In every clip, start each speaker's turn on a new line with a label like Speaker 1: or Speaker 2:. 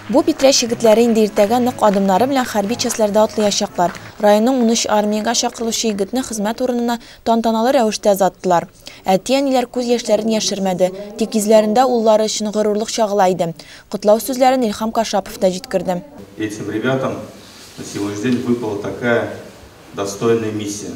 Speaker 1: Бу Питрәч егетләре инде иртәгә нык адымнары белән хәрби частьләрдә атлыячаклар. Районның унөч армиягә чакырылучы егетне хезмәт урынына тантаналы рәвештә озаттылар. Әти-әниләр күз яшьләрен яшермәде, тик йөзләрендә уллары өчен горурлык чагыла иде. Котлау сүзләрен Илһам Кашапов та җиткерде. Этим ребятам
Speaker 2: на сегодняшний день выпала такая достойная миссия.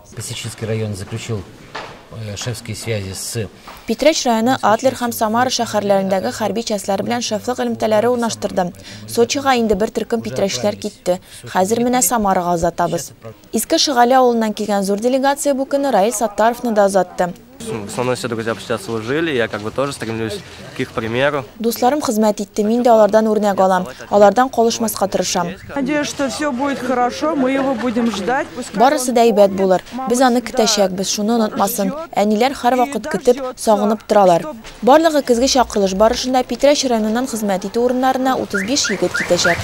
Speaker 1: Песочинский районы
Speaker 3: заключил шефские связи с Питрәч районы
Speaker 1: Адлер һәм Самара шәһәрләрендәге хәрби частьләр белән шефлык элемтәләре урнаштырды. Сочига инде бер төркем питрәчләр китте. Хәзер менә Самарага озатабыз. Иске Шыгали авылыннан килгән зур делегация бу көнне Раил Саттаровны да озатты. Со мной все друзья
Speaker 4: почти отслужили, я как бы тоже стремлюсь к их примеру. Дусларым хезмәт
Speaker 1: итте, мин дә алардан үрнәк алам, алардан калышмаска тырышам. Надеюсь, что все
Speaker 5: будет хорошо, мы его будем ждать. Барысы да әйбәт
Speaker 1: булыр, без аны көтәчәкбез, шуны онытмасын. Әниләр һәрвакыт көтеп, сагынып торалар. Барлыгы көзге чакырылыш барышында Питрәч районыннан хезмәт итү урыннарына 35 егет китәчәк.